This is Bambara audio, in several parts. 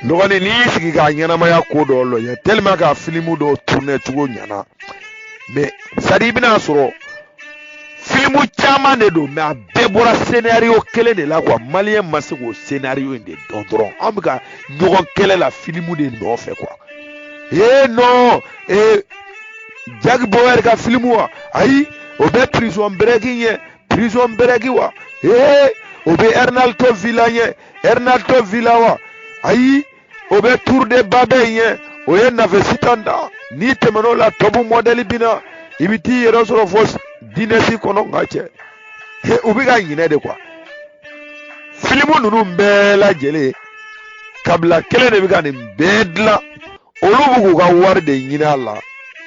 dɔgɔnin n'i y'i sigi ka ɲɛnamaya ko dɔ lajɛ tellement k'a filimu dɔw turunɛ cogo ɲana mɛ sadi i bɛna sɔrɔ filimu caman de don mɛ a bɛɛ bɔra senariyo kelen de la kuwa maliyɛn ma se k'o senariyo in de dɔn dɔrɔn an bɛ ka ɲɔgɔn kɛlɛ la filimu de nɔfɛ kuwa ee nɔn ee Jack Bauer ka filimu wa ayi o bɛ Prison Break ɲɛ Prison Break wa ee o bɛ Hernando Villa ɲɛ Hernando Villa wa ayi o bɛ tour de Babel ɲɛ o ye nafe sitan da n'i tɛmɛn'o la Top Model binna i bɛ t'i yɛrɛ sɔrɔ fo dinɛsi kɔnɔ nka cɛ he u bɛ ka ɲinɛ de kuwa filimu ninnu bɛɛ lajɛlen kabila kelen de bɛ ka nin bɛɛ dilan olu bɛ k'u ka wari de ɲini a la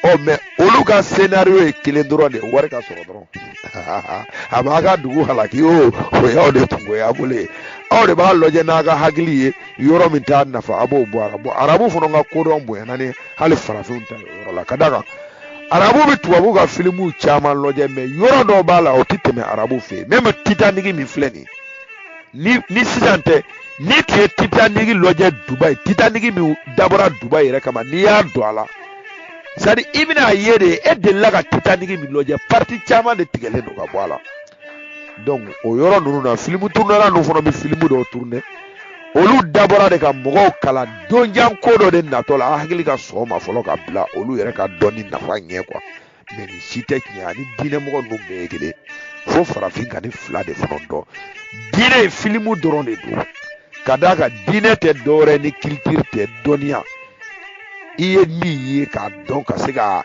ɔ mɛ olu ka senario ye kelen dɔrɔn de ye wari ka sɔrɔ dɔrɔn a b'a ka dugu halaki o o y'aw de kungoya bolo ye aw de b'a lajɛ n'a ka hakili ye yɔrɔ min t'a nafa a b'o bɔ a la bɔn arabu fana ka kodɔn bonyana ni hali farafinw ta yɔrɔ la ka d'a kan arabu bɛ tubabu ka filimuw caman lajɛ mɛ yɔrɔ dɔw b'a la o tɛ tɛmɛ arabu fɛ yen mɛmu titaniki min filɛ nin ye ni ni sisan tɛ n'i tun ye titaniki lajɛ dubayi titaniki min dabɔra dubayi yɛrɛ kama n'i y'a don a la sadi i bɛn'a ye de e delila ka titaniki min lajɛ pariti caman de tigɛlen don ka bɔ a la donc o yɔrɔ ninnu na filimu turunɛla ninnu fana bɛ filimu dɔw turunɛ olu dabɔra de ka mɔgɔw kalan donjan ko dɔ de natɔ la a hakili ka sɔn o ma fɔlɔ ka bila olu yɛrɛ ka dɔnni nafa ɲɛ kuwa mɛ nin si tɛ tiɲɛ ani diinɛmɔgɔ ninnu bɛɛ ye kelen fo farafin ka nin fila de fana dɔn diinɛ ye filimu dɔrɔn de don ka d'a kan diinɛ tɛ dɔwɛrɛ ni culture tɛ dɔnniya i ye min ye k'a dɔn ka se ka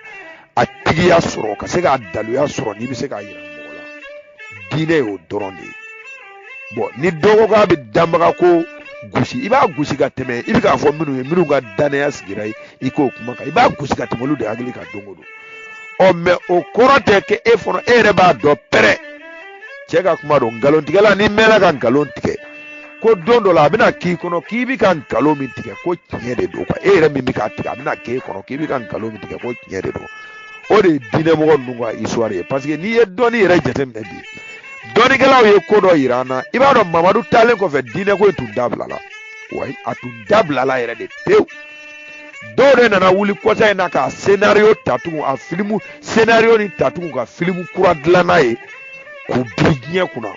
a tigiya sɔrɔ ka se k'a daluya sɔrɔ n'i bɛ se k'a yira mɔgɔ la diinɛ y'o dɔrɔn de ye bɔn ni dɔ ko k'a bɛ danbaga ko gosi i b'a gosi ka tɛmɛ i bɛ k'a fɔ minnu ye minnu ka dannaya sigira ye i k'o kuma kan i b'a gosi ka tɛmɛ olu de hakili ka don o don ɔ mɛ o kɔrɔ tɛ kɛ e fana e yɛrɛ b'a dɔn pɛrɛ cɛ ka kuma don nkalontigɛla n'i mɛnna ka nkalon tigɛ ko don dɔ la a bɛna k'i kɔnɔ k'i bɛ ka nkalon min tigɛ ko tiɲɛ de don e yɛrɛ min bɛ k'a tigɛ a bɛna k'e kɔnɔ k'i bɛ ka nkalon min tigɛ ko tiɲɛ de don o de ye diinɛmɔgɔ ninnu ka histoire ye parce que n'i ye dɔnni yɛrɛ jateminɛ bi dɔnnikɛlaw ye ko dɔ yira an na i b'a dɔn mamadu taalen kɔfɛ diinɛko in tun dabilala wayi a tun dabilala yɛrɛ de pewu dɔw de nana wuli kɔsa in na ka senario ta tugun a filimu senario nin ta tugun ka filimu kura dilan n'a ye k'u biri diɲɛ kunna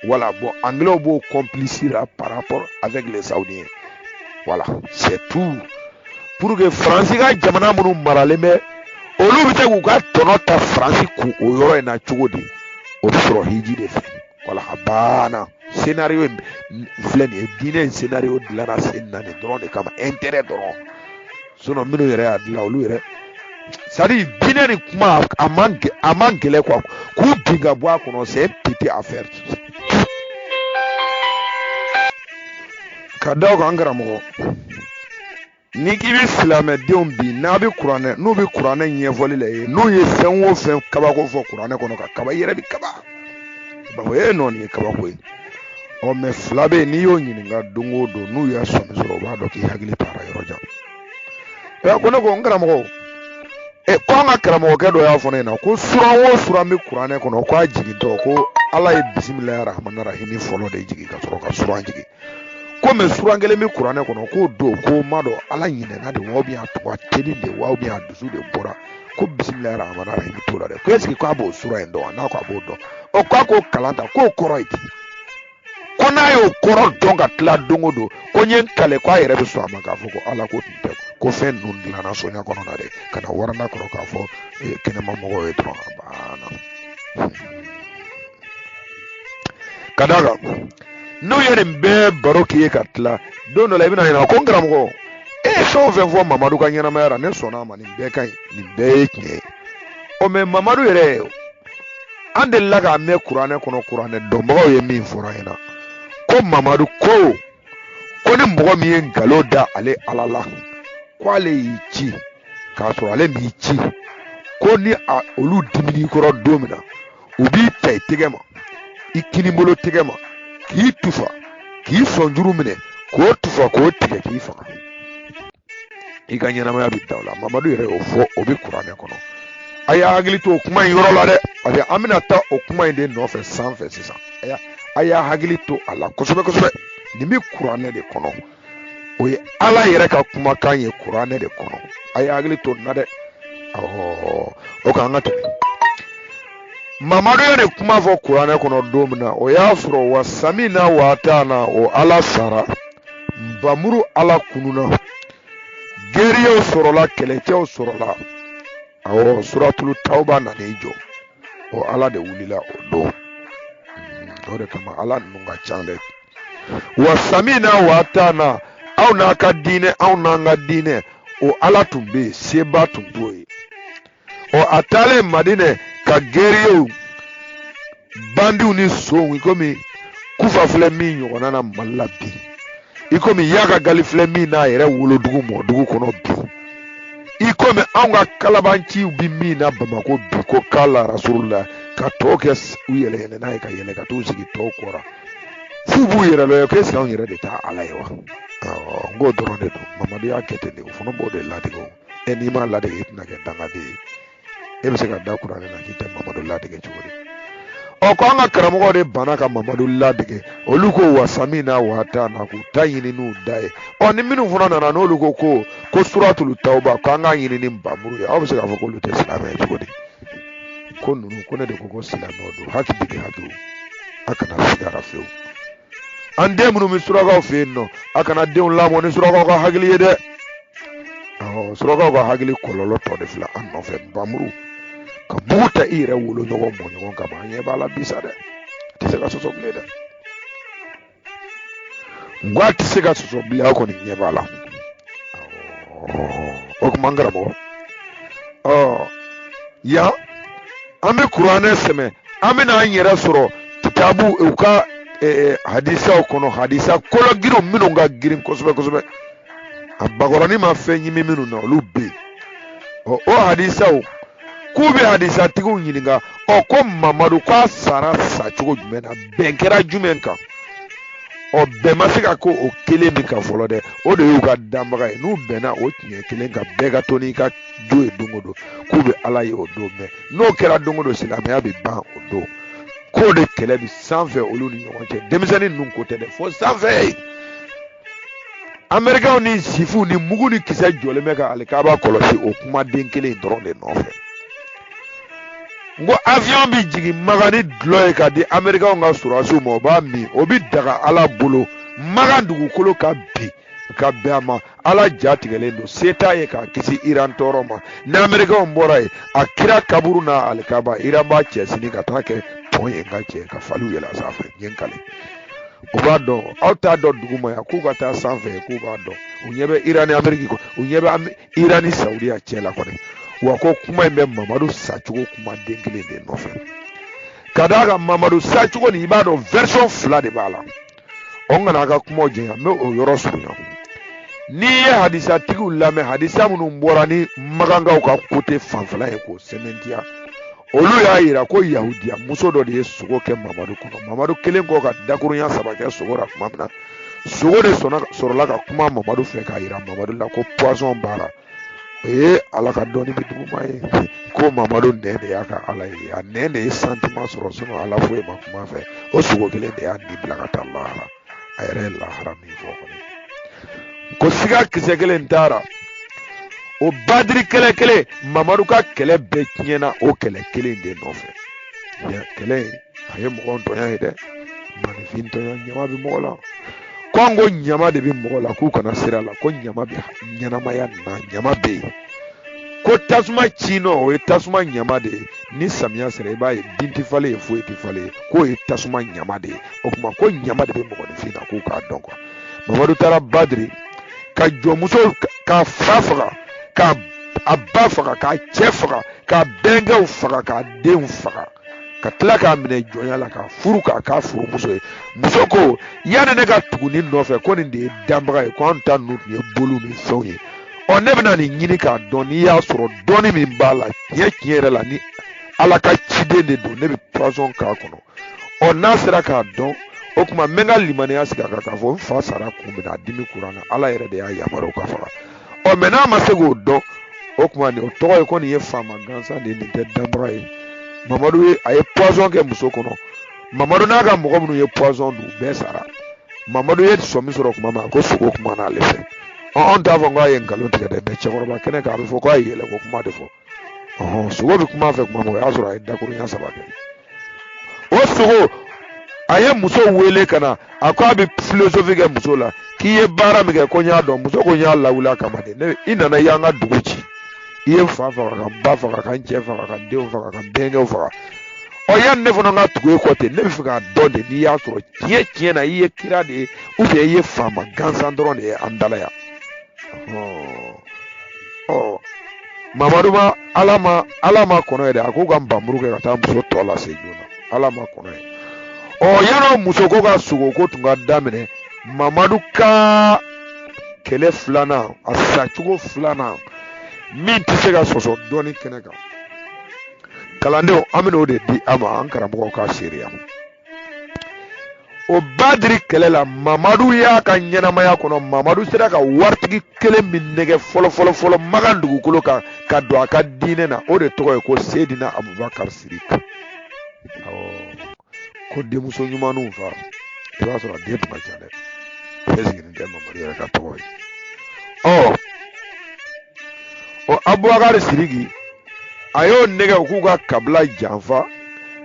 wala bɔn anglɛw b'o kɔnpilisi la par rapport avec les saoudiens wala c'est tout pour que faransi ka jamana minnu maralen bɛ olu bɛ se k'u ka tɔnɔ ta faransi kun o yɔrɔ in na cogo di o bɛ sɔrɔ hiji de fɛ voilà a banna scénario in filɛ nin ye diinɛ in scénario dilanna sen na nin dɔrɔn de kama intérêt dɔrɔn sinon minnu yɛrɛ y'a dilan olu yɛrɛ c'est à dire diinɛ ni kuma a man a man gɛlɛn quoi k'u bin ka bɔ a kɔnɔ c'est petite affaire ka d'a kan karamɔgɔ ni k'i bɛ silamɛdenw bi n'a bɛ kuranɛ n'u bɛ kuranɛ ɲɛfɔli la i ye n'u ye fɛn o fɛn kabako fɔ kuranɛ kɔnɔ ka kaba i yɛrɛ bɛ kaba b'a fɔ e non nin ye kabako ye ɔ mais fila bɛ yen n'i y'o ɲininka don o don n'u y'a sɔmi sɔrɔ u b'a dɔn k'i hakili taara yɔrɔ jan ko ne ko n karamɔgɔ ɛ ko an ka karamɔgɔkɛ dɔ y'a fɔ ne ɲɛna ko suran o suran bɛ kuranɛ kɔnɔ ko a jigintɔ ko ala ye bisimilahi rahmani rahimi fɔlɔ de jigin ka sɔrɔ ka suran jigin ko mais suran kelen bɛ kuranɛ kɔnɔ k'o don ko n m'a dɔn ala ɲinɛna de wa ou bien a tun ka teli de wa ou bien a dusu de bɔra ko bisimilahi rahmani rahimi t'o la dɛ ko est-ce que k'a b'o suran in dɔn wa n'a ko a b'o dɔn ɔ k'a k'o kalan ta k'o kɔrɔ ye di ko n'a y'o kɔrɔ dɔn ka tila don o don ko n ye n kale ko a yɛrɛ bɛ sɔn a ma k'a fɔ ko ala ko tun tɛ ko fɛn ninnu dilanna so in kɔnɔna dɛ ka na waranda kɔrɔ k'a fɔ eh, kɛnɛma mɔgɔw ye dɔrɔn a banna ka d'a kan n'u ye nin bɛɛ baro k'i ye ka tila don dɔ la i bɛn'a ɲininka ko n karamɔgɔ e ye fɛn o fɛn fɔ mamadu ka ɲɛnamaya la ne sɔnna a ma nin bɛɛ ka ɲi nin bɛɛ ye tiɲɛ ye ɔ mais mamadu yɛrɛ an delila k'a mɛn kuranɛ kɔnɔ kuranɛ dɔnbagaw ye min fɔra an ɲɛna ko mamadu ko ko ni mɔgɔ min ye nkalon da ale ala la ko ale y'i ci k'a sɔrɔ ale m'i ci ko ni a olu dimin'i kɔrɔ don min na u b'i ta i tɛgɛ ma i kinibolo tɛgɛ ma k'i tufa k'i sɔnjuru minɛ k'o tufa k'o tigɛ k'i faga i ka ɲɛnamaya bɛ dan o la mamadu yɛrɛ y'o fɔ o bɛ kuranɛ kɔnɔ a y'a hakili to o kuma in yɔrɔ la dɛ parce que an bɛna taa o kuma in de nɔfɛ sanfɛ sisan a y'a hakili to a la kosɛbɛ kosɛbɛ nin bɛ kuranɛ de kɔnɔ o ye ala yɛrɛ ka kumakan ye kuranɛ de kɔnɔ a y'a hakili to nin na dɛ ɔɔ o k'an ka tɛmɛ mamadu ye nin kuma fɔ kuranɛ kɔnɔ don min na o y'a sɔrɔ wa samina wa taana o ala sara nba muru ala kununna guerriers sɔrɔla kɛlɛcɛw sɔrɔla awɔ suratulu tawba nana i jɔ o ala de wulila o don o de kama ala ninnu ka ca dɛ wa samina wa taana aw n'a ka diinɛ anw n'an ka diinɛ o ala tun bɛ yen seba tun t'o ye ɔ a taalen madinɛ ka gɛriyew bandiw ni sow i komi kufa filɛ min ɲɔgɔnna na mali la bi i komi yaka gali filɛ min n'a yɛrɛ wolodugu mɔdugu kɔnɔ bi i komi anw ka kalabanciw bi min na bamako bi ko kala rasulula ka tɔw kɛ u yɛlɛ yɛlɛ n'a ye ka yɛlɛ ka t'u sigi tɔw kɔrɔ f'u b'u yɛrɛ lɔ ye ko est-ce que anw yɛrɛ de tɛ ala ye wa n k'o dɔrɔn de don mamadu y'a kɛ ten de o fana b'o de ladege o e n'i m'a ladege i tɛna kɛ dangaden ye e bɛ se ka da kuranɛ na k'i tɛ mamadu ladege cogo di ɔ ko an ka karamɔgɔ de banna ka mamadu ladege olu ko wasamina wa atana k'u ta ɲini n'u da ye ɔ ni minnu fana nana n'olu ko ko ko suratulu tawuba ko an k'a ɲini ni bamuru ye aw bɛ se k'a fɔ k'olu tɛ silamɛ ye cogo di ko ninnu ko ne de ko ko silamɛw don hakili de ka dɔgɔn a kana siga a ra fewu an den minnu bɛ surakaw fɛ yen nɔ a kana denw lamɔ ni surakaw ka hakili ye dɛ surakaw ka hakili kɔlɔlɔ tɔ de filɛ an nɔfɛ bamuru ka mugu ta i yɛrɛ woloɲɔgɔn mɔɲɔgɔn kama an ɲɛ b'a la bi sa dɛ a tɛ se ka sɔsɔ bilen dɛ n ko a tɛ se ka sɔsɔ bilen aw kɔni ɲɛ b'a la o tuma n karamɔgɔ yan an bɛ kuranɛ sɛmɛ an bɛna an yɛrɛ sɔrɔ kitabu u ka eh, hadisaw kɔnɔ hadisa kologirinw minnu ka girin kosɛbɛ kosɛbɛ a bakɔrɔnin ma fɛn ɲimi minnu na olu bɛ yen ɔ o hadisaw k'u bɛ hadisatigiw ɲininka ɔ ko mamadu k'a sara sa cogo jumɛn na bɛn kɛra jumɛn kan ɔ bɛn ma se ka kɛ o kelen min kan fɔlɔ dɛ o de y'u ka danbaga ye n'u bɛnna o tiɲɛ kelen kan bɛɛ ka to n'i ka jo ye don o don k'u bɛ ala ye o don mɛn n'o kɛra don o don silamɛya bɛ ban o don k'o de kɛlɛ bi sanfɛ olu ni ɲɔgɔn cɛ denmisɛnnin ninnu ko tɛ dɛ fo sanfɛ amerikɛnw ni sifuw ni mugu ni kisɛ jɔlen bɛ ka alikaba kɔlɔsi o kumaden kelen dɔrɔn de nɔfɛ n ko avion bi jigin makan ni dɔlɔ ye ka di amerikɛnw ka sɔrɔdasiw ma o b'a min o bi daga ala bolo makan dugukolo kan bi ka bɛn a ma ala ja tigɛlen don se t'a ye k'a kisi iran tɔɔrɔ ma ni amerikɛnw bɔra yen a kira kaburu ni alikaba iran b'a cɛ sini ka t'a kɛ pɔn ye n ka cɛ ka faliw yɛlɛ a sanfɛ n ye n kali u b'a dɔn aw t'a dɔn duguma yan k'u ka taa sanfɛ k'u b'a dɔn u ɲɛ bɛ iran ni ameriki kɔ u ɲɛ bɛ iran ni saudiya cɛ la kɔni wa ko kuma in bɛ mamadu sacogo kuma den kelen de nɔfɛ ka d'a kan mamadu sacogo nin i b'a dɔn version fila de b'a la n kana a ka kuma janya n bɛ o yɔrɔ surunya n'i ye hadisatigiw lamɛn hadisa minnu bɔra ni makankaw ka kote fanfɛla ye k'o sɛmɛntiya olu y'a yira ko yahudiya muso dɔ de ye sogo kɛ mamadu kɔnɔ mamadu kelen kɔ ka dakurunya saba kɛ sogo la tuma min na sogo de sɔrɔla ka kuma mamadu fɛ k'a yira mamadu la ko poison b'a la o ye ala ka dɔnni bin duguma ye ko mamadu nɛn de y'a ka ala ye a nɛn de ye sentiment sɔrɔ sinon ala foyi ma kuma fɛ o sogo kelen de y'a ni bila ka taa lahara a yɛrɛ ye lahara min fɔ kɔni ko siga kisɛ kelen t'a ra o badiri kɛlɛ kelen mamadu ka kɛlɛ bɛɛ tiɲɛna o kɛlɛ kelen de nɔfɛ kɛlɛ in a ye mɔgɔ tɔɲɔ ye dɛ maninfin tɔɲɔ ɲama bɛ mɔgɔ la ko an ko ɲama de bɛ mɔgɔ la k'u kana siga a la ko ɲama bɛ ɲɛnamaya na ɲama bɛ yen ko tasuma ci nɔ o ye tasuma ɲama de ye ni samiya sera i b'a ye bin tɛ falen ye foyi tɛ falen ye k'o ye tasuma ɲama de ye o tuma ko ɲama de bɛ mɔgɔninfin na k'u k'a dɔn quoi mamadu taara badiri ka jɔnmuso k'a fa faga k'a ba faga k'a cɛ faga k'a bɛnkɛw faga k'a denw faga ka tila k'a minɛ jɔnya la k'a furu k'a k'a furumuso ye muso ko yanni ne ka tugu nin nɔfɛ ko nin de ye danbaga ye ko anw ta ninnu tun ye boliw ni fɛnw ye ɔ ne bɛna nin ɲini k'a dɔn n'i y'a sɔrɔ dɔnni min b'a la tiɲɛ tiɲɛ yɛrɛ la ni ala ka ciden de don ne bɛ poison k'a kɔnɔ ɔ n'a sera k'a dɔn o tuma n bɛ n ka limaniya sigi a kan k'a fɔ n fa sara kun min na a dimi kura na ala yɛrɛ de y'a yamaruya o k'a faga ɔ mais n'a ma se k'o dɔn o tuma nin o tɔgɔ ye ko nin ye faama gansan de ye nin tɛ danbaga ye mamadu ye a ye poison kɛ muso kɔnɔ mamadu n'a ka mɔgɔ minnu ye poison dun bɛɛ sara mamadu ye sɔmi sɔrɔ tuma min ko sogo kuman'ale fɛ anw t'a fɔ k'a ye nkalon tigɛ dɛ mais cɛkɔrɔba kɛnɛ kan a bɛ fɔ k'a ye yɛlɛko kuma de fɔ sogo bɛ kuma fɛ tuma min o y'a sɔrɔ a ye dakurunya saba kɛ o sogo a ye muso wele ka na a ko a bɛ filosofi kɛ muso la k'i ye baara min kɛ ko n y'a dɔn muso ko n y'a lawuli a kama de ne i nana i y'an ka dugu ci i ye n fa faga ka n ba faga ka n cɛ faga ka n denw faga ka n denkɛw faga ɔ yanni ne fana ka tugu e kɔ ten ne b'a fɛ k'a dɔn de n'i y'a sɔrɔ tiɲɛ tiɲɛ na i ye kira de ye ou bien i ye faama gansan dɔrɔn de ye an dala yan ɔ mamadu ma ala ma ala ma kɔnɔ ye dɛ a ko ka npanmuru kɛ ka taa muso tɔ lase joona ala ma kɔnɔ ye o yɔrɔ muso ko ka sogo ko tun ka daminɛ mamadu ka kɛlɛ filanan a sacogo filanan min tɛ se ka sɔsɔ dɔnni kɛnɛ kan kalandenw an bɛna o de di aw ma an karamɔgɔw ka seereya o badiri kɛlɛ la mamadu y'a ka ɲɛnamaya kɔnɔ mamadu sera ka waritigi kelen min nɛgɛ fɔlɔfɔlɔ fɔlɔ makan dugukolo kan ka don a ka diinɛ na o de tɔgɔ ye ko sedina abubakar siriki ko denmuso ɲumanw fa i b'a sɔrɔ den tun ka ca dɛ bɛɛ sigilen tɛ mamadu yɛrɛ ka tɔgɔ ye ɔ o abubakar siriki a y'o nɛgɛ u k'u ka kabila janfa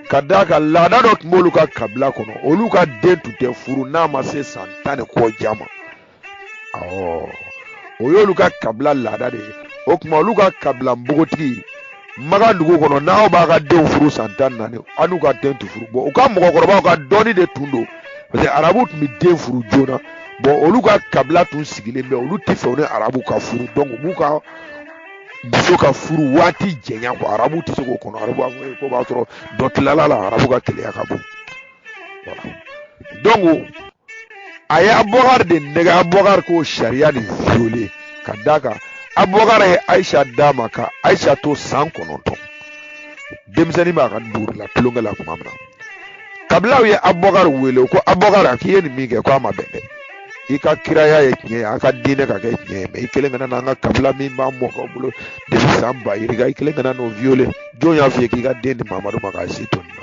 ka d'a kan laada dɔ tun b'olu ka kabila kɔnɔ olu ka den tun tɛ furu n'a ma se san tan ni kɔ ja ma o y'olu ka kabila laada de ye o tuma olu ka kabila npogotigi maga dugu kɔnɔ n'aw b'a ka denw furu san tan ni naani aw n'u ka den tɛ furu bon u ka mɔgɔkɔrɔbaw ka dɔnni de tun don parce que arabu tun bɛ den furu joona bon olu ka kabila tun sigilen bɛ olu tɛ fɛ u ni arabu ka furu donc u b'u ka muso ka furu waati janya ko arabu tɛ se k'o kɔnɔ arabu b'a fɔ ko b'a sɔrɔ dɔ tilala a la arabu ka keleya ka bon donc a ye abubakar de nɛgɛ abubakar k'o sariya de viole ka d'a kan abubakar ye ayisa d'a ma ka ayisa to san kɔnɔntɔn denmisɛnnin b'a ka dugu la tulonkɛ la tuma min na kabilaw ye abubakar wele ko abubakar a k'i ye nin min kɛ ko a ma bɛn dɛ i ka kiraya ye tiɲɛ ye a ka diinɛ ka kɛ tiɲɛ ye mais i kelen kana n'an ka kabila min b'an mɔkɛw bolo depuis san ba yirika i kelen kana n'o viole jɔn y'a f'i ye k'i ka den di mamadu ma k'a si to nin na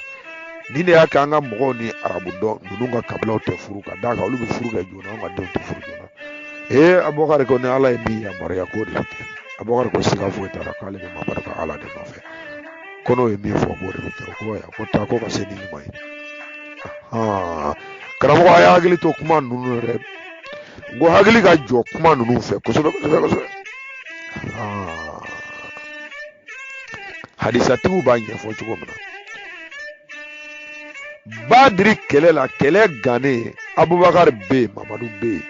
nin de y'a kɛ an ka mɔgɔw ni arabu tɔ ninnu ka kabilaw tɛ furu ka d'a kan olu bɛ furu kɛ joona an ka denw tɛ furu joona ee abubakari ko ni ala ye min yamaruya k'o de bɛ kɛ abubakari ko siga foyi t'a la k'ale bɛ mamadu ka ala de nɔfɛ ko n'o ye min fɔ k'o de bɛ kɛ ko ya ko taa ko ka se ni ɲuman ye karamɔgɔ a y'aw hakili to kuma ninnu yɛrɛ n ko hakili ka jɔ kuma ninnu fɛ kosɛbɛ kosɛbɛ kosɛbɛ hadisatigiw b'a ɲɛfɔ cogo min na badiri kɛlɛ la kɛlɛ gannen abubakari bɛ yen mamadu bɛ yen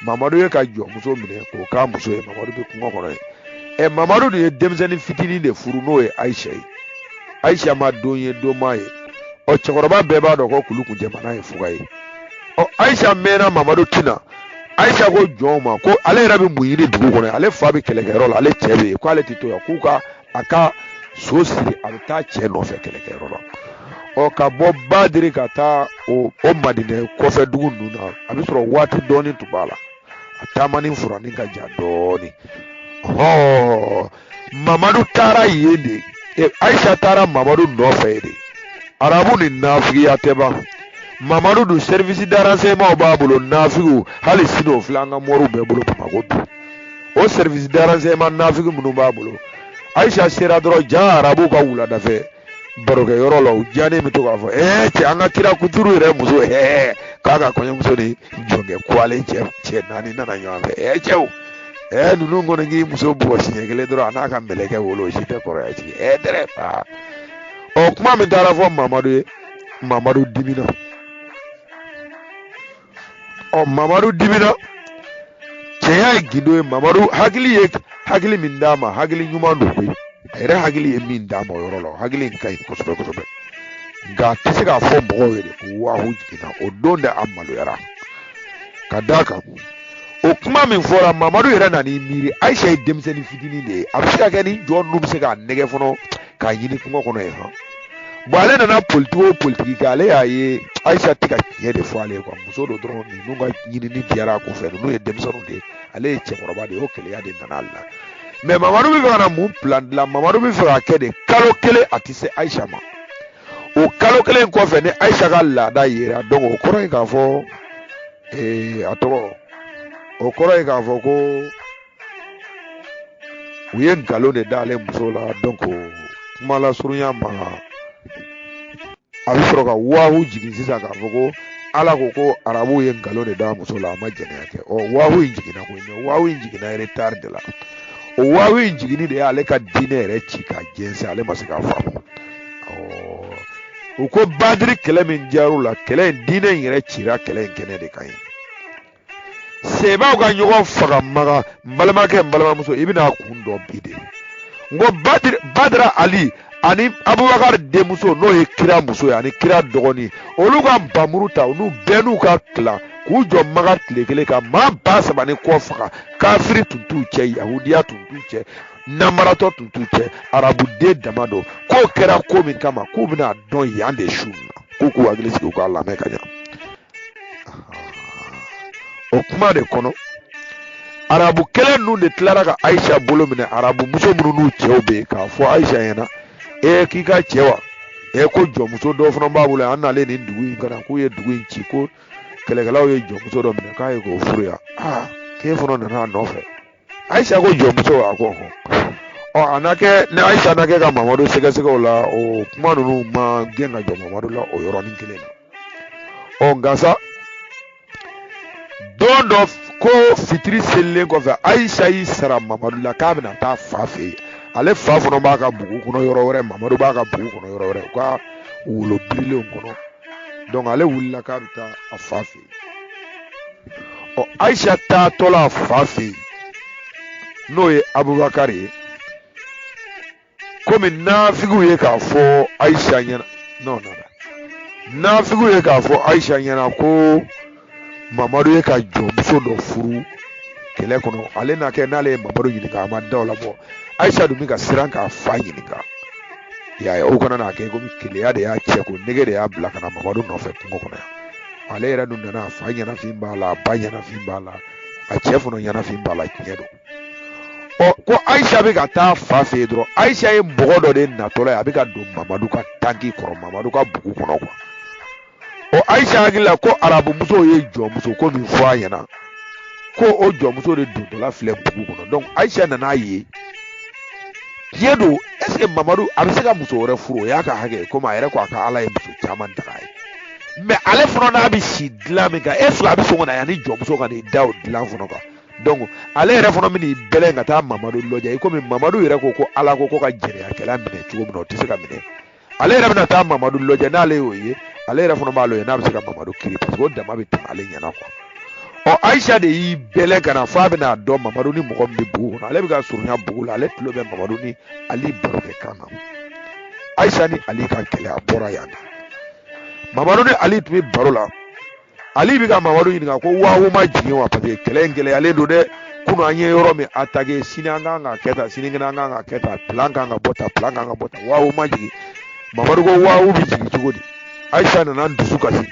mamadu y'a ka jɔnmuso minɛ k'o k'a muso ye mamadu bɛ kungo kɔnɔ yen ɛ mamadu de ye denmisɛnnin fitinin de furu n'o ye ayisa ye ayisa ma don ye don ma ye ɔ cɛkɔrɔba bɛɛ b'a dɔn ko kulu kun jamana ye fuga ye ɔ ayisa mɛnna mamadu tɛ na ayisa ko jɔnw ma ko ale yɛrɛ bɛ mun ɲini dugu kɔnɔ ale fa bɛ kɛlɛkɛyɔrɔ la ale cɛ bɛ yen k'ale tɛ to yan k'u ka a ka so siri a bɛ taa cɛ nɔfɛ kɛlɛkɛyɔrɔ la ɔ ka bɔ badiri ka taa o o madinɛ kɔfɛ dugu ninnu na a bɛ sɔrɔ waati dɔɔni tun b'a la a taamani furani ka jan dɔɔni hɔɔ mamadu taara yen de e ayisa taara mamadu nɔfɛ yen de arabu ni nafigiya tɛ ban mamadu dun service de renseignement b'a bolo nafigiw hali sini o filɛ an ka mɔriw bɛɛ bolo bamakɔ bi o service de renseignement nafigi minnu b'a bolo ayisa sera dɔrɔn ja arabu ka wuladafɛ barokɛ yɔrɔ la u diyanen bɛ to k'a fɔ ee cɛ an ka kira kuturu yɛrɛ muso ee k'a ka kɔɲɔmuso ni jɔnkɛ kuwalen cɛ cɛ naani nana ɲɔgɔn fɛ ee cɛw ee ninnu kɔni k'i muso bugɔ siɲɛ kelen dɔrɔn a n'a ka mɛlɛkɛw olu si tɛ kɔrɔya jigin ee dɛrɛ aa ɔ kuma min taara fɔ mamadu ye mamadu dimina ɔ mamadu dimina cɛya ye gindo ye mamadu hakili ye hakili min d'a ma hakili ɲuman don koyi a yɛrɛ hakili ye min d'a ma o yɔrɔ la hakili in ka ɲi kosɛbɛ kosɛbɛ nka a tɛ se k'a fɔ mɔgɔw ye de ko wahu jiginna o don de a maloyara ka d'a kan o kuma min fɔra mamadu yɛrɛ nan'i miiri ayisa ye denmisɛnnin fitinin de ye a bɛ se ka kɛ ni jeune ninnu bɛ se k'a nɛgɛn fɔlɔ k'a ɲini kungo kɔnɔ yen hɔn bon ale nana politigi o politigi kɛ ale y'a ye ayisa tɛ ka tiɲɛ de fɔ ale ye muso dɔ dɔrɔn ninnu ka ɲinini diyara a ko fɛ ninnu ye denmisɛnninw de ye ale ye cɛkɔrɔba de ye o keleya de nana ale la mais mamadu bɛ fɛ ka na mun plan dilan mamadu bɛ fɛ ka kɛ de kalo kelen a tɛ se ayisa ma o kalo kelen kɔfɛ ni ayisa ka laada yera donc o kɔrɔ ye k'a fɔ a tɔgɔ o kɔrɔ ye k'a fɔ ko u ye nkalon de d'ale muso la donc kuma lasurunya ma a bɛ sɔrɔ ka wahu jigin sisan k'a fɔ ko ala ko ko arabuw ye nkalon de d'a muso la a ma jɛnɛya kɛ ɔ wahu in jiginna koyi mais wahu in jiginna retard de la o wahu in jiginni de y'ale ka diinɛ yɛrɛ ci ka jɛnsɛn ale ma se k'a faamu u ko badiri kɛlɛ min jar'u la kɛlɛ in diinɛ in yɛrɛ cira kɛlɛ in kɛnɛ de kan yen sebaaw ka ɲɔgɔn faga maga n balimakɛ n balimamuso i bɛn'a kun dɔn bi de n ko badara ali ani abubakar denmuso n'o ye kira muso ye ani kira dɔgɔnin olu ka npanmuru ta olu bɛɛ n'u ka tila k'u jɔ maga tile kelen ka maa ba saba ni kɔ faga kafiri tun t'u cɛ yahudiya tun t'u cɛ namaratɔ tun t'u cɛ arabuden dama don k'o kɛra ko min kama k'u bɛn'a dɔn yan de su nin na k'u k'u hakili sigi u k'a lamɛn ka ɲa o kuma de kɔnɔ arabu kelen ninnu de tilara ka ayisa bolo minɛ arabu muso minnu n'u cɛw bɛ yen k'a fɔ ayisa ɲɛna ee k'i ka cɛ wa ee ko jɔnmuso dɔ fana b'a bolo an nalen in dugu in kan a k'u ye dugu in ci ko kɛlɛkɛlaw ye jɔnmuso dɔ minɛ k'a ye k'o furu yan aa k'e fana nana a nɔfɛ ayisa ko jɔnmuso a ko ɔ a na kɛ ni ayisa na kɛ ka mamadu sɛgɛsɛgɛ o la o kuma ninnu ma gɛn ka jɔ mamadu la o yɔrɔnin kelen na ɔ nka sa don dɔ ko fitiri selilen kɔfɛ ayisa y'i sara mamadu la k'a bɛna taa a fa fɛ yen ale fa fana b'a ka bugu kɔnɔ yɔrɔ wɛrɛ mamadu b'a ka bugu kɔnɔ yɔrɔ wɛrɛ u ka wolo birilenw kɔnɔ ale wulila k'a bɛ taa a fa fɛ ɔ ayisa taatɔla a fa fɛ yen n'o ye abubakari ye komi nafigiw ye k'a fɔ ayisa ɲɛna n'o nana nafigiw ye k'a fɔ ayisa ɲɛna ko mamadu ye ka jɔnmuso dɔ furu kɛlɛ kɔnɔ ale na kɛ n'ale ye mamadu ɲininka a ma da o la bɔ ayisa dun bɛ ka siran k'a fa ɲininka y'a ye o kana n'a kɛ komi keleya de y'a cɛko nege de y'a bila ka na mamadu nɔfɛ kungo kɔnɔ yan ale yɛrɛ dun nana a fa ɲɛnafin b'a la a ba ɲɛnafin b'a la a cɛ fana ɲɛnafin b'a la tiɲɛ don ɔ ko ayisa bɛ ka taa fa fɛ yen dɔrɔn ayisa ye mɔgɔ dɔ de natɔla ye a bɛ ka don mamadu ka tanki kɔrɔ mamadu ka bugu kɔnɔ kuwa ɔ ayisa hakili la ko arabumuso ye jɔnmuso ko min fɔ a ɲɛna ko o jɔnmuso de dontɔla filɛ bugu kɔnɔ donc ayisa nan'a ye tiɲɛ don ɛseke mamadu a bɛ se ka muso wɛrɛ furu o y'a ka hakɛ komi a yɛrɛ ko a ka ala ye muso caman dag'a ye mɛ ale fana n'a bɛ si dilan min kan ɛseke a bɛ sɔn ka na yan ni jɔnmuso ka n'i da o dilan fana kan donc ale yɛrɛ fana bɛn'i bɛlɛn ka taa mamadu lajɛ i komi mamadu yɛrɛ ko ko ala ko ko ka jɛnɛyakɛla minɛ cogo min na o tɛ se ka minɛ ale yɛrɛ bɛna taa mamadu lajɛ n'ale y'o ye ale yɛrɛ fana b'a lajɛ n'a bɛ se ka mamadu kiri parce que o dama bɛ tɛmɛ ale ɲɛna quoi ɔ ayisa de y'i bɛlɛn ka na f'a bɛn'a dɔn mamadu ni mɔgɔ min bɛ bugu kɔnɔ ale bɛ ka surunya bugu la ale tulo bɛ mamadu ni ali barokɛkan na ayisa ni ali ka kɛlɛ a bɔra yan de mamadu ni ali tun bɛ baro la ali bɛ ka mamadu ɲininka ko wawo ma jigin wa paseke kɛlɛ in gɛlɛyalen don dɛ kunun an ye yɔrɔ min atake sini an kan ka kɛ tan sinikɛnɛ an kan ka kɛ tan pilan kan ka bɔ tan pilan kan ka bɔ tan wawo ma jigin mamadu ko wawo bɛ jigin cogo di ayisa nana n dusu kasi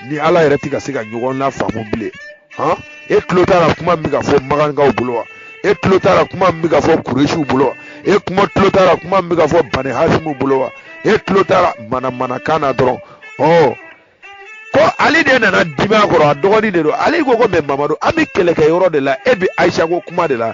ni ala yɛrɛ tɛ ka se ka ɲɔgɔn lafaamu bilen han e tulo t'a la kuma min bɛ ka fɔ makankaw bolo wa e tulo t'a la kuma min bɛ ka fɔ kuresiw bolo wa e kuma tulo t'a la kuma min bɛ ka fɔ bani hasimu bolo wa e tulo t'a la manamanakan na dɔrɔn ɔ ko ale de nana dimi a kɔrɔ a dɔgɔnin de don ale ko ko mɛ mamadu an bɛ kɛlɛkɛ yɔrɔ de la e bɛ ayisa ko kuma de la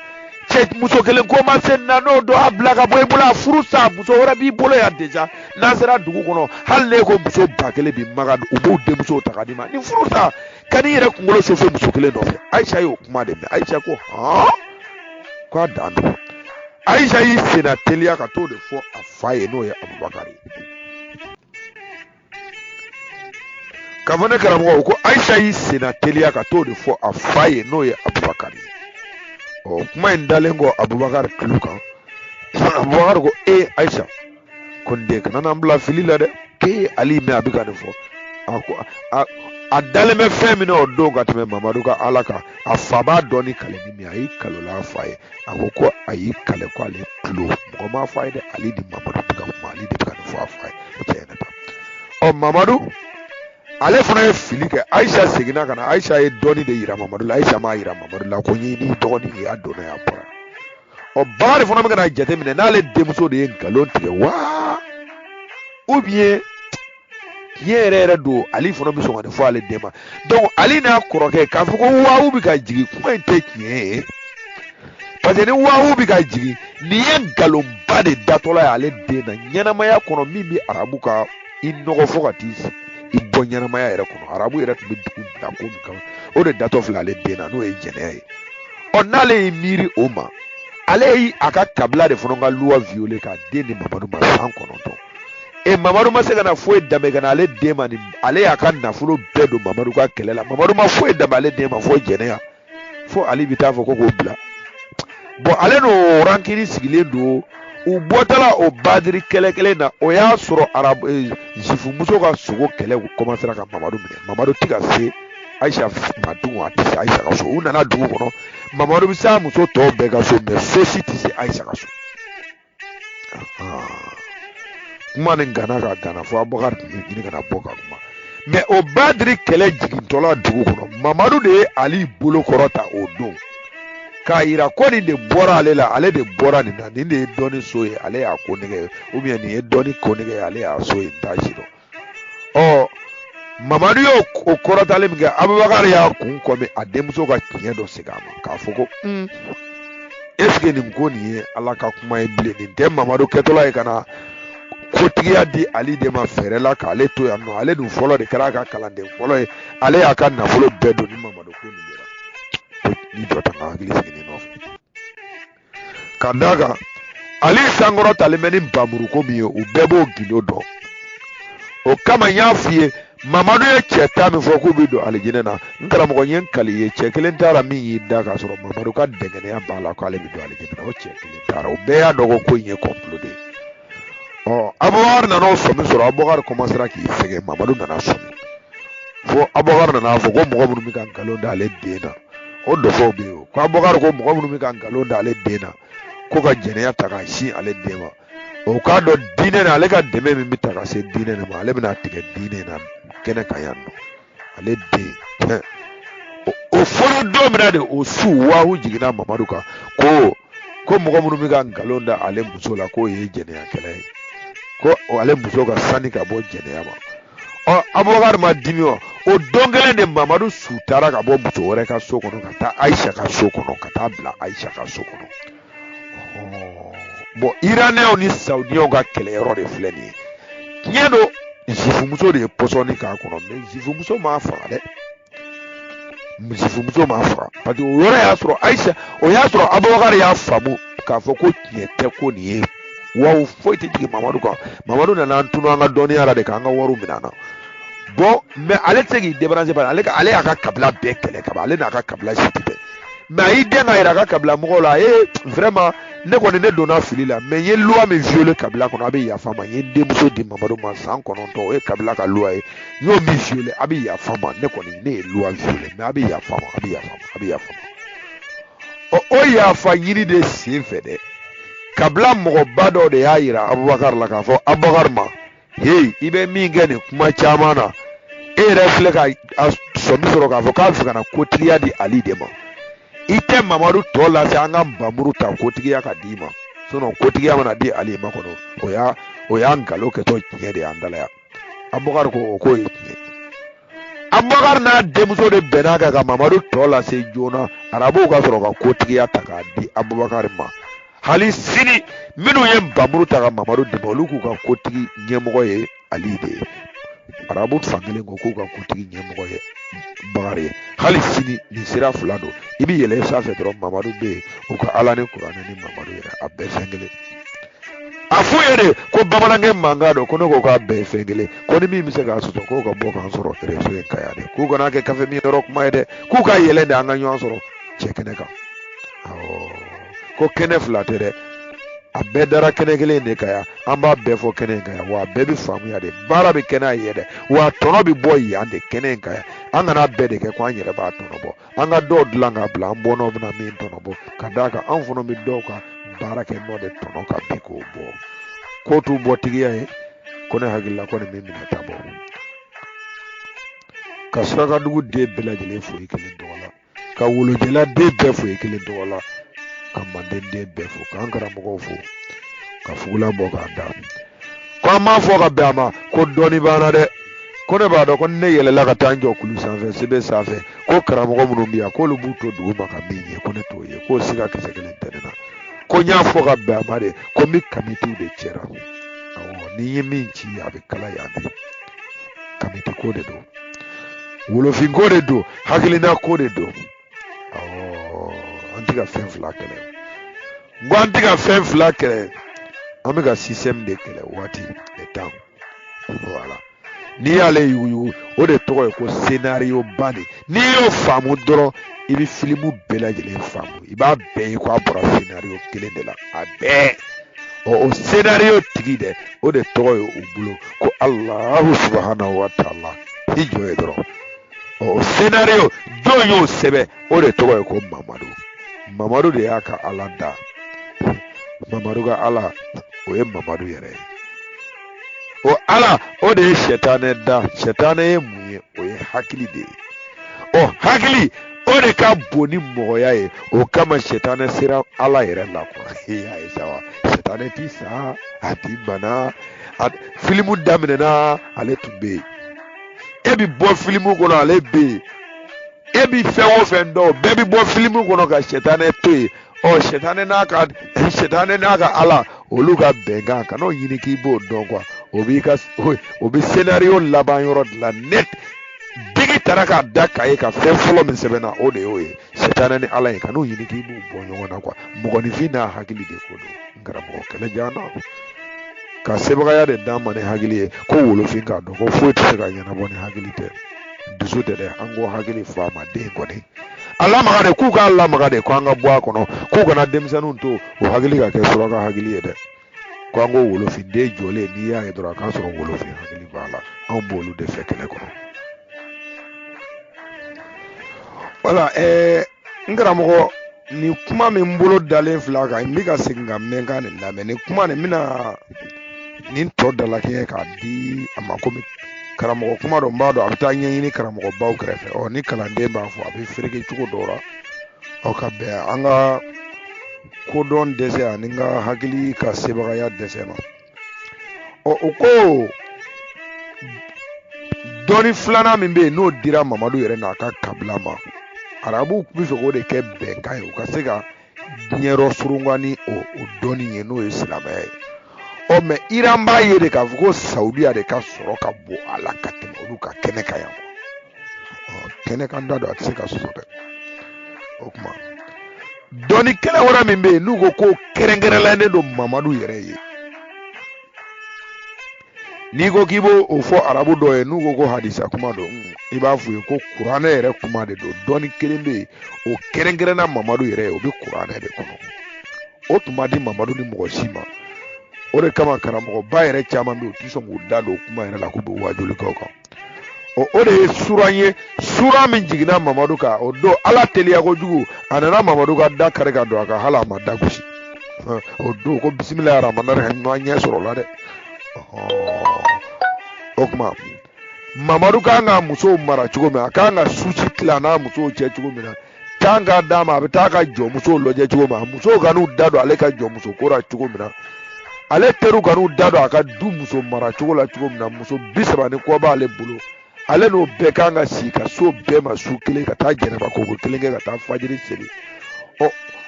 cɛ muso kelen ko ma se na n'o don a bila ka bɔ i bolo a furu sa muso wɛrɛ b'i bolo yan deja n'an sera dugu kɔnɔ hali n'e ko muso ba kelen b'i maga u b'u denmuso ta ka d'i ma nin furu sa kan'i yɛrɛ kunkolo sofe muso kelen nɔfɛ ayisa y'o kuma de mɛn ayisa ko hɔn k'a dan don ayisa y'i senna teliya ka t'o de fɔ a fa ye n'o ye abubakari ye ka fɔ ne karamɔgɔ ko ayisa y'i senna teliya ka t'o de fɔ a fa ye n'o ye abubakari ye ɔ kuma in dalen kɔ abubakari tulo kan abubakari ko ee ayisa ko n den kana n'an bila fili la dɛ k'e y'ali mɛn a bɛ ka nin fɔ a ko a a dalen bɛ fɛn min na o don ka tɛmɛ mamadu ka ala kan a fa b'a dɔn ni kale ni min a y'i kal'o la a fa ye a ko ko a y'i kale ko ale tulo mɔgɔ m'a fɔ a ye dɛ ali ni mamadu bɛ ka kuma ale de bɛ ka nin fɔ a fa ye tiɲɛ na ɔ mamadu ale fana ye fili kɛ ayisa seginna ka na ayisa ye dɔɔnin de yira mamadu la ayisa m'a yira mamadu la ko n y'e n'i dɔgɔnin ye a donna yan bɔra abubakari fana bɛ ka na jateminɛ n'ale denmuso de ye nkalon tigɛ wa ou bien tiɲɛ yɛrɛ yɛrɛ don ale fana bɛ sɔn ka nin fɔ ale den ma donc ale n'a kɔrɔkɛ k'a fɔ ko wawu bɛ ka jigin kuma in tɛ tiɲɛ ye parce que ni wawu bɛ ka jigin nin ye nkalonba de datɔla ye ale den na ɲɛnamaya kɔnɔ min bɛ arabu ka i nɔgɔ fo ka t'i sigi i bɔ ɲɛnamaya yɛrɛ kɔnɔ arabu yɛrɛ tun bɛ dugu bila ko min kama o de datɔ filɛ ale den na n'o ye jɛnɛya ye ɔ n'ale y'i miiri o ma ale ye a ka kabila de fana ka luwa viole k'a den di mamadu ma san kɔnɔntɔn e mamadu ma se ka na foyi danbe ka na ale den ma ni ale y'a ka nafolo bɛɛ don mamadu ka kɛlɛ la mamadu ma foyi danbe ale den ma fo jɛnɛya fo ale bɛ taa fɔ ko k'o bila bɔn ale n'o rankini sigilen don u bɔtɔla o badiri kɛlɛ kelen na o y'a sɔrɔ arabu eh, zifumuso ka sogo kɛlɛ u kɔmansera ka mamadu minɛ mamadu tɛ ka se ayisa ma dun a tɛ se ayisa ka so u nana dugu kɔnɔ mamadu bɛ s'a muso tɔw bɛɛ ka so mɛ fosi tɛ se ayisa ka so kuma nin ganna ka gana fo abubakar tun bɛ ɲini ka na bɔ ka kuma mɛ o badiri kɛlɛ jigintɔla dugu kɔnɔ mamadu de ye ali bolo kɔrɔta o don k'a yira ko nin de bɔra ale la ale de bɔra nin na nin de ye dɔnni so ye ale y'a konnɛgɛ ye nin ye dɔnni konnɛgɛ ye ale y'a so ye n t'a si dɔn ɔ mamadu y'o o kɔrɔtali min kɛ abubakari y'a kun kɔmi a denmuso ka tiɲɛ dɔ segin a ma k'a fɔ ko mm. esike nin ko nin ye ala ka kuma ye bilen nin tɛ mamadu kɛtɔla ye ka na kotigiya di ali de ma fɛɛrɛ la k'ale to yan nɔ ale dun fɔlɔ de kɛra a ka kalanden fɔlɔ ye ale y'a ka nafolo bɛɛ don ni mamadu ko nin de la ni jɔ tan ka hakili sigi nin nɔfɛ ka d'a kan ali sankɔrɔtalen bɛ ni npanmuru ko min ye u bɛɛ b'o gindo dɔn o kama n y'a f'i ye mamadu ye cɛ tan min fɔ k'u bɛ don alijinɛ na n karamɔgɔ n ye n kali ye cɛ kelen taara min y'i da k'a sɔrɔ mamadu ka dankɛnɛya b'a la k'ale bɛ don alijinɛ na o cɛ kelen taara o bɛɛ y'a dɔn ko ko in ye kɔnpolo de ye ɔ abubakari nana o sɔmi sɔrɔ abubakari kɔmansera k'i sɛgɛn mamadu nana sɔmi fo abubakari nana fɔ ko mɔgɔ minnu bɛ ka nkalon da ale den na o dɔfɔw bɛ yen o ko abubakari ko mɔgɔ minnu bɛ ka nkalon da ale den na ko ka jɛnɛya ta k'a sin ale den ma o k'a dɔn diinɛ na ale ka dɛmɛ min bɛ taa ka se diinɛ de ma ale bɛna tigɛ diinɛ na kɛnɛ kan yan nɔ ale den tɛ o fɔlen don min na de o su wahu jiginna mamadu kan ko ko mɔgɔ minnu bɛ ka nkalon da ale muso la k'o ye jɛnɛyakɛla ye ko ale muso ka sani ka bɔ jɛnɛya ma ɔ abubakar ma dimi wa o don kelen de mamadu su tara ka bɔ muso wɛrɛ ka so kɔnɔ ka taa ayisa ka so kɔnɔ ka taa bila ayisa ka so kɔnɔ bɔn iranɛw ni saudiyaw ka kɛlɛyɔrɔ de filɛ nin ye tiɲɛ don zifumuso de ye pɔsɔni k'a kɔnɔ mɛ zifumuso m'a faga dɛ zifumuso m'a faga parce que o yɔrɔ y'a sɔrɔ ayisa o y'a sɔrɔ abubakar y'a faamu k'a fɔ ko tiɲɛ tɛ ko nin ye wa o foyi tɛ jigin mamadu kan mamadu nana an tunu an ka dɔnniya la de k'an ka wariw minɛ an na bon mais ale tɛ se k'i débarrasser bari ale ka ale y'a ka kabila bɛɛ kɛlɛ kaban ale n'a ka kabila si tɛ bɛn mais a y'i dɛn k'a yira a ka kabila mɔgɔw la a ye vraiment ne kɔni ne donna fili la mais n ye loi min violer kabila kɔnɔ a bɛ yafa n ma n ye n denmuso di mamadu ma san kɔnɔntɔn o ye kabila ka loi ye n'o min fiyele a bɛ yafa ma ne kɔni ne ye luwa fiyele mɛ a bɛ yafa ma a bɛ yafa ma a bɛ yafa ma ɔ o yafa ɲini de sen fɛ dɛ kabila mɔgɔba dɔ de y'a yira abubakari la k'a fɔ abubakari ma heyi i bɛ min kɛ nin kuma caman na e yɛrɛ filɛ ka a sɔmi sɔrɔ k'a fɔ k'a fɛ ka na kotigiya di ali de ma i tɛ mamadu tɔ lase an ka nbamuru ta kotigiya ka d'i ma sinɔn kotigiya mana di ali ma kɔnɔ o y'a o y'a nkalon kɛtɔ tiɲɛ de y'an dalaya abubakari ko o k'o ye tiɲɛ abubakari n'a denmuso de bɛnn'a kan ka mamadu tɔ lase joona arabuw ka sɔrɔ ka kotigiya ta k'a di abubakari ma hali sini minnu ye nbamuru ta ka mamadu dɛmɛ olu k'u ka kotigi ɲɛmɔgɔ ye ali de ye arabu fan kelen ko k'u ka kotigi ɲɛmɔgɔ ye bakari ye hali sini nin sira fila don i bɛ yɛlɛ sanfɛ dɔrɔn mamadu bɛ yen u ka ala ni kuranɛ ni mamadu yɛrɛ a bɛɛ fɛn kelen a f'u ye de ko bamanankɛ mankan don ko ne ko k'a bɛɛ ye fɛn kelen ko ni min bɛ se k'a sɔsɔ k'o ka bɔ k'an sɔrɔ réseau in kan yan dɛ k'u kana kɛ kafe min yɔrɔ kuma ye dɛ k'u ka yɛlɛn de an ka ɲɔgɔn sɔrɔ cɛ kɛnɛ kan ko kɛnɛ fila tɛ dɛ a bɛɛ dara kɛnɛ kelen de kan yan an b'a bɛɛ fɔ kɛnɛ in kan yan wa a bɛɛ bɛ faamuya de baara bɛ kɛ n'a ye dɛ wa a tɔnɔ bɛ bɔ yan de kɛnɛ in kan yan an kan'a bɛɛ de kɛ ko an yɛrɛ b'a tɔnɔ bɔ an ka dɔw dilan k'a bila an bɔnnaw bɛna min tɔnɔ bɔ ka d'a kan an fana bɛ dɔw ka baara kɛ nɔ de tɔnɔ kan bi k'o bɔ ko t'u bɔ tigiya ye ko ne hakili la kɔni min minɛ ta bɔ ka surakadugu den bɛɛ lajɛlen fo i kelen tɔgɔ la ka wolojɛla den bɛɛ fo i kelen tɔgɔ la ka manden den bɛɛ fo k'an karamɔgɔw fo ka fugula bɔ k'a da ko an m'a fɔ ka bɛn a ma ko dɔnni b'an na dɛ ko ne b'a dɔn ko ni ne yɛlɛla ka taa n jɔ kulu sanfɛ sebe sanfɛ ko karamɔgɔ minnu bɛ yan k'olu b'u to dugu ma ka min ye ko ne t'o ye k'o siga kisɛ kelen tɛ ne na ko n y'a fɔ ka bɛn a ma de ko n bɛ kamitiw de cɛ ra awɔ ni n ye min ci a bɛ kala yan de kamiti ko de don wolofin ko de don hakilina ko de don an tɛ ka fɛn fila kɛlɛ n ko an tɛ ka fɛn fila kɛlɛ an bɛ ka système de kɛlɛ waati le temps voilà n'i y'ale yuguyugu o de tɔgɔ ye ko scénario ba de n'i y'o faamu dɔrɔn i bɛ filimu bɛɛ lajɛlen faamu i b'a bɛɛ ye ko a bɔra scénario kelen de la a bɛɛ ɔ o scénario tigi dɛ o de tɔgɔ ye u bolo ko alahu subahanahu wa taala i jɔ yen dɔrɔn o senario jɔn y'o sɛbɛn o de tɔgɔ ye ko mamadu mamadu de y'a ka ala da mamadu ka ala o ye mamadu yɛrɛ ye o ala o de ye sɛtanɛ da sɛtanɛ ye mun ye o ye hakili de ye ɔ hakili o de ka bon ni mɔgɔya ye o kama sɛtanɛ sera ala yɛrɛ la kuwa y'a ye sa wa sɛtanɛ ti sa a ti bana filimu daminɛna ale tun bɛ yen e bɛ bɔ filimu kɔnɔ ale bɛ yen e bɛ fɛn o fɛn dɔn bɛɛ bɛ bɔ filimu kɔnɔ ka sɛtanɛ to yen ɔ sɛtanɛ n'a ka sɛtanɛ n'a ka ala olu ka bɛnkan kan'o ɲini k'i b'o dɔn kuwa o b'i ka o bɛ senario laban yɔrɔ dilan n'a tigi taara k'a da kaye kan fɛn fɔlɔ min sɛbɛnna o de y'o ye sɛtanɛ ni ala ye kan'o ɲini k'i b'u bɔ ɲɔgɔn na kuwa mɔgɔninfin n'a hakili de ko don karamɔgɔ kɛlɛ jan na ka sebagaya de d'an ma ni hakili ye ko wolofin k'a dɔn ko foyi tɛ se ka ɲɛnabɔ ni hakili tɛ dusu tɛ dɛ an ko hakili fɔ a ma den kɔni a lamaga de k'u k'a lamaga de ko an ka bɔ a kɔnɔ k'u kana denmisɛnninw to o hakili ka kɛ suraka hakili ye dɛ ko an ko wolofin den jɔlen n'i y'a ye dɔrɔn a k'a sɔrɔ wolofin hakili b'a la anw b'olu de fɛ kɛlɛ kɔnɔ wala ɛɛ n karamɔgɔ nin kuma min bolo dalen filɛ a kan n bɛ ka segin ka mɛn ka nin lamɛn nin kuma nin bɛna nin tɔ dalakɛɲɛ k'a di a ma komi karamɔgɔ kuma don n b'a dɔn a bɛ taa ɲɛɲini karamɔgɔbaw kɛrɛfɛ ɔ ni kalanden b'a fɔ a bɛ fereke cogo dɔw la ɔ ka bɛn an ka kodɔn dɛsɛ ani n ka hakili ka sebagaya dɛsɛ ma ɔ o ko dɔnni filanan min bɛ yen n'o dira mamadu yɛrɛ n'a ka kabila ma arabuw b'a fɛ k'o de kɛ bɛnkan ye u ka se ka diɲɛyɔrɔ surunkan ni o o dɔnni ye n'o ye silamɛya ye ɔ mɛ iran b'a ye de k'a fɔ ko saudiya de ka sɔrɔ ka bon a la ka tɛmɛ olu ka kɛnɛ kan yan kɛnɛ kan da don a tɛ se ka soso dɛ o kuma dɔnni kɛnɛ wɛrɛ min bɛ yen n'u ko ko kɛrɛnkɛrɛnnen don mamadu yɛrɛ ye n'i ko k'i b'o fɔ arabu dɔ ye n'u ko ko hadisa kuma don i b'a f'u ye ko kuranɛ yɛrɛ kuma de don dɔnni kelen bɛ yen o kɛrɛnkɛrɛnna mamadu yɛrɛ ye o bɛ kuranɛ de kɔnɔ o tun ma di mamadu ɲɛ mɔgɔ si ma o de kama karamɔgɔba yɛrɛ caman bɛ yen u tɛ sɔn k'u da don o kuma yɛrɛ la k'u bɛ waajuli kɛ o kan o o de ye sura ye sura min jiginna mamadu kan o don ala teliya kojugu a nana mamadu ka da kari ka don a kan hali a ma da gosi o don ko bisimila aramana ka ɲɔgɔn ɲɛ sɔrɔ la dɛ o kuma mamadu ka kan ka musow mara cogo min a ka kan ka susi tila n'a musow cɛ cogo min na kan ka d'a ma a bɛ taa ka jɔnmusow lajɛ cogo min na musow kan'u da don ale ka jɔnmuso ko la cogo min na ale teriw kan'u da don a ka du muso mara cogo la cogo min na muso bi saba ni kɔ b'ale bolo ale n'o bɛɛ kan ka sigi ka s'o bɛɛ ma su kelen ka taa janaba koko kelen kɛ ka taa fajiri seli ɔ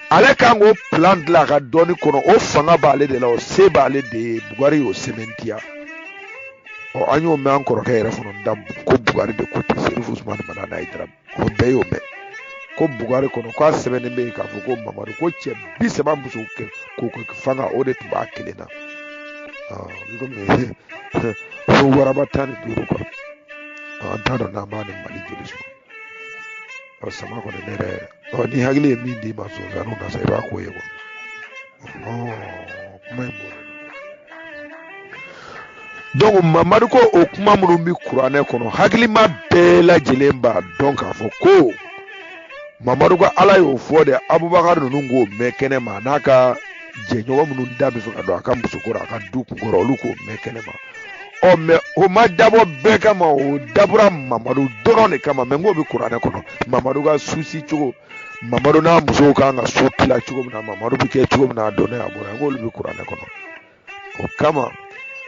ale kan k'o plan dilan a ka dɔnni kɔnɔ o fanga b'ale de la o se b'ale de ye bugari y'o sɛmɛntiya ɔ an y'o mɛn an kɔrɔkɛ yɛrɛ fana da ko bugari de ko ten serifu usumani madani hayidara o bɛɛ y'o mɛn ko bugari kɔnɔ k'a sɛbɛnnen bɛ yen k'a fɔ ko mamadu ko cɛ bi saba musoko kɛ fanga o de tun b'a kelen na ko waraba tan ni duuru kuwa an t'a dɔn n'an b'a ni mali joli sɔrɔ sama kɔni ne yɛrɛ ni hakili ye min d'i ma sonsannin na sa i b'a ko ye kuwa dɔnku mamadu ko o kuma minnu bɛ kuranɛ kɔnɔ hakilima bɛɛ lajɛlen b'a dɔn k'a fɔ ko mamadu ka ala y'o fɔ de abubakar ninnu k'o mɛn kɛnɛ ma n'a ka jɛɲɔgɔn minnu da bɛ fɛ ka don a ka musoko rɔ a ka du kunko rɔ olu k'o mɛn kɛnɛ ma ɔ mɛ o ma dabɔ bɛɛ kama o dabɔra mamadu dɔrɔn de kama mɛ n k'o bɛ kuranɛ kɔnɔ mamadu ka susi cogo mamadu n'a musow kan ka su tila cogo min na mamadu bɛ kɛ cogo min na a donna a bɔra n k'olu bɛ kuranɛ kɔnɔ o kama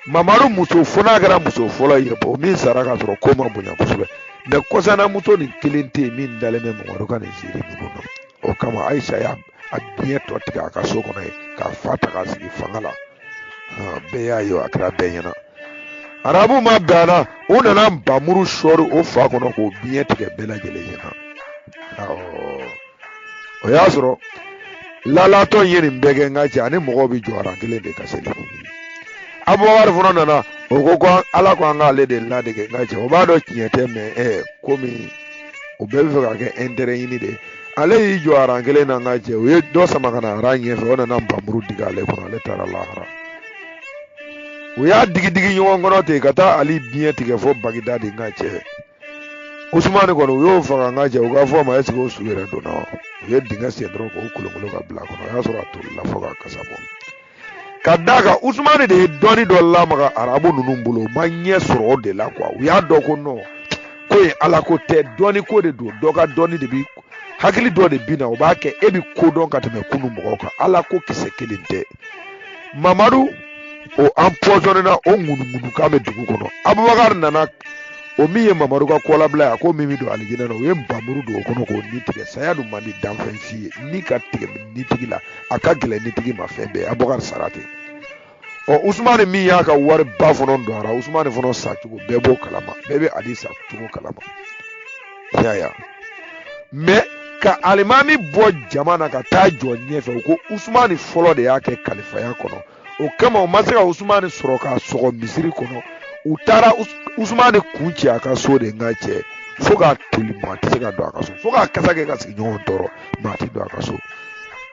mamadu muso fo n'a kɛra muso fɔlɔ ye o min sara ka sɔrɔ ko ma bonya kosɛbɛ mɛ kɔsanamuso nin kelen tɛ yen min dalen bɛ mamadu ka nin ziiri ninnu na o kama ayisa y'a biɲɛ tɔ tigɛ a ka so kɔnɔ yen k'a fa ta k'a sigi fanga la bɛɛ y'a ye a kɛra bɛɛ ɲɛna arabu ma bɛn a la u nana npamuru sɔɔri o fa kɔnɔ k'o biɲɛ tigɛ bɛɛ lajɛlen ɲɛna o y'a sɔrɔ lalatɔ ye nin bɛɛ kɛ n ka cɛ ani mɔgɔw bɛ jɔ aran kelen de ka seli abubakari fana nana o ko ko ala ko an k'ale de ladege n ka cɛ o b'a dɔn tiɲɛ tɛ mɛ ɛ komi o bɛɛ bɛ fɛ k'a ka ɛntɛrɛ ɲini de ale y'i jɔ aran kelen na n ka cɛ o ye dɔ sama ka na aran ɲɛfɛ o nana nbamuru digi ale kɔnɔ ale taara lahara u y'a digi digi ɲɔgɔn kɔnɔ ten ka taa ali biɲɛ tigɛ fo bagidadi n ka cɛ usumani kɔni u y'o faga n ka cɛ u ka fɔ a ma ɛseke o su yɛrɛ donna wa u ye dingɛ sen dɔrɔn k'o kolokolo ka bila a kɔnɔ o y'a sɔrɔ a tolila fo k'a kasa bɔ ka d'a kan usumani de ye dɔnni dɔ lamaga arabu ninnu bolo u ma ɲɛ sɔrɔ o de la kuwa u y'a dɔn ko nɔn ko ye ala ko tɛ dɔnni ko de don dɔ ka dɔnni de bi hakili dɔ de bi na o b'a kɛ e bi ko dɔn ka tɛmɛ kunu mɔgɔw kan ala ko kisɛ kelen tɛ mamadu o anpɔsɔnena o ŋunuŋunu kan bɛ dugu kɔnɔ abubakari nana o min ye mamadu ka kɔlabila ye a ko min bɛ don alijinɛ na o ye nbamuru don o kɔnɔ k'o ni tigɛ saya dun man di danfɛn si ye ni ka tigɛ ni tigi la a ka gɛlɛn ni tigi ma fɛn bɛɛ abubakari sara ten ɔ usumani min y'a ka wari ba fana don a ra usumani fana sa cogo bɛɛ b'o kalama bɛɛ bɛ ali sa cogo kalama yaya mɛ ka alimami bɔ jama na ka taa jɔ ɲɛfɛ u ko usumani fɔlɔ de y'a kɛ kalifaya kɔnɔ o kama u ma se ka usumani sɔrɔ k'a sɔgɔ misiri kɔnɔ u taara usumani kun ci a ka so de nka cɛ fo k'a toli maa tɛ se ka don a ka so fo k'a kasa kɛ ka sigiɲɔgɔn tɔɔrɔ maa tɛ don a ka so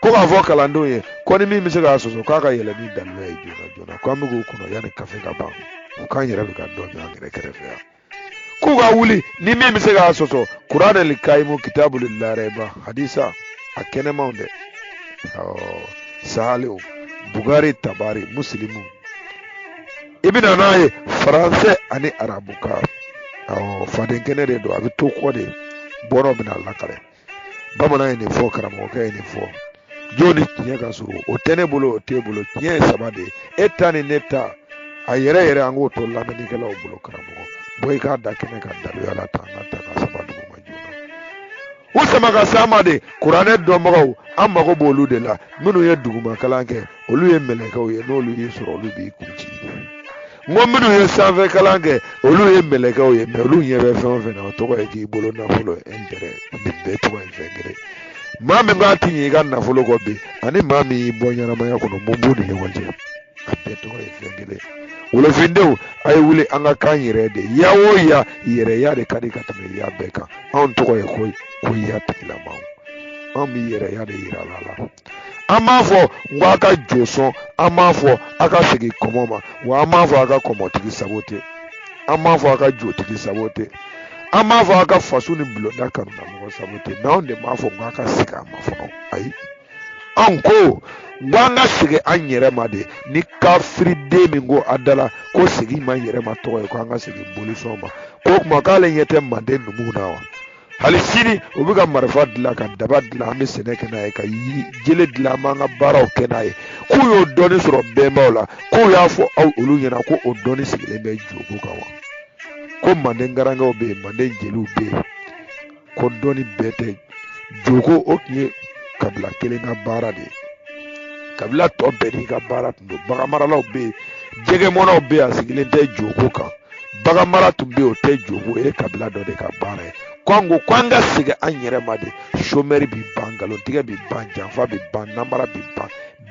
ko k'a fɔ kalandenw ye ko ni min bɛ se k'a sɔsɔ k'a ka yɛlɛ ni daluya ye joona joona ko an bɛ k'o kɔnɔ yanni kafe ka ban u k'an yɛrɛ bɛ ka dɔ min an yɛrɛ kɛrɛfɛ yan k'u ka wuli ni min bɛ se k'a sɔsɔ kuranɛ li kayimu kitabu li larɛba hadisa a kɛnɛmaw dɛ sahaliw bugari tabari musilimu i bɛna n'a ye faransɛ ani arabukan fadenkɛnɛ de don a bɛ to kɔ de bɔnɔ bɛna lakali bamanan ye nin fɔ karamɔgɔkɛ ye nin fɔ jo ni tiɲɛ ka surun o tɛ ne bolo o t'e bolo tiɲɛ ye saba de ye e ta ni ne ta a yɛrɛ yɛrɛ an k'o to lamɛnnikɛlaw bolo karamɔgɔ bɔ i k'a da kɛnɛ kan daluya la ta an k'a ta k'a saba duguma joona u sama ka s'a ma de kuranɛ dɔnbagaw an mago b'olu de la minnu ye duguma kalan kɛ olu ye mɛlɛkɛw ye n'olu y'i sɔrɔ olu b'i kun ci n ko minnu ye sanfɛ kalan kɛ olu ye mɛlɛkɛw ye mɛ olu ɲɛ bɛ fɛn o fɛn na o tɔgɔ ye k'i bolo nafolo ɛntɛrɛ nin bɛɛ tɔgɔ ye fɛn kelen maa min b'a ti ɲɛ i ka nafolo kɔ bi ani maa min y'i bɔ ɲɛnamaya kɔnɔ mun b'u ni ɲɔgɔn cɛ a bɛɛ tɔgɔ ye fɛn kelen wolofindenw a ye wuli an ka k'an yɛrɛ de ya o ya yɛrɛya de ka di ka tɛmɛ ya bɛɛ kan anw tɔgɔ ye ko ko ya tigilamaw anw bɛ yɛrɛya de yira la la an b'a fɔ n ko a ka jo sɔn an b'a fɔ a ka segin kɔmɔ ma wa an b'a fɔ a ka kɔmɔtigi sago tɛ an b'a fɔ a ka jotigi sago tɛ an b'a fɔ a ka faso ni bulonda kanuna mɔgɔ sago tɛ mɛ anw de b'a fɔ k'a ka segin a ma fɔlɔ ayi anw ko n ko an ka segin an yɛrɛ ma de ni kafiriden min ko a da la ko segin maa yɛrɛ ma tɔgɔ ye ko an ka segin bolisɔn ma ko o tuma k'ale ɲɛ tɛ manden numuw na wa hali sini u bɛ ka marifa dilan ka daba dilan an bɛ sɛnɛ kɛ n'a ye ka jele dilan an b'an ka baaraw kɛ n'a ye k'u y'o dɔnni sɔrɔ bɛnbaw la k'u y'a fɔ aw olu ɲɛna ko o dɔnni sigilen bɛ joko kan wa ko manden garankɛw bɛ yen manden jeliw bɛ yen ko dɔnni bɛɛ tɛ joko o tun ye kabila kelen ka baara de ye kabila tɔ bɛɛ n'i ka baara tun don baganmaralaw bɛ yen jɛgɛmɔnaw bɛ yen a sigilen tɛ joko kan baganmara tun bɛ yen o tɛ joko o ye kabila dɔ de ka baara ye ko an ko ko an ka segin an yɛrɛ ma de somɛri bi ban nkalontigɛ bi ban janfa bi ban namara bi ban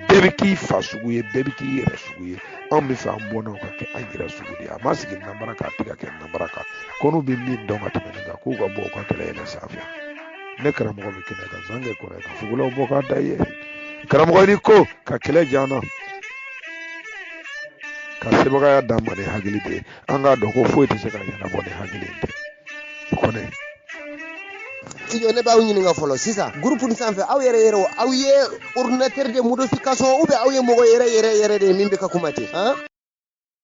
bɛɛ bɛ k'i fa sugu ye bɛɛ bɛ k'i yɛrɛ sugu ye anw b'a fɛ an bɔnnaw ka kɛ an yɛrɛ sugu de ye a ma sigi namara kan a tɛ ka kɛ namara kan ko n'u bɛ min dɔn ka tɛmɛ nin kan k'u ka bɔ u ka kɛlɛ yɛlɛ sanfɛ ne karamɔgɔ bɛ kɛnɛ kan zan kɛ kɔrɔ ye ka fugulaw bɔ k'a da i ye karamɔgɔ ni ko ka kɛlɛ jan na ka sebagaya d'an ma ni hakili de ye an k'a dɔn ko foyi tɛ se ka ɲɛnabɔ ni hakili tɛ kɔni iyo ne b'aw ɲininka fɔlɔ sisan groupe nin sanfɛ aw yɛrɛ yɛrɛ aw ye ordinateur de modification ou bien aw ye mɔgɔ yɛrɛ yɛrɛ yɛrɛ de ye min bɛ ka kuma ten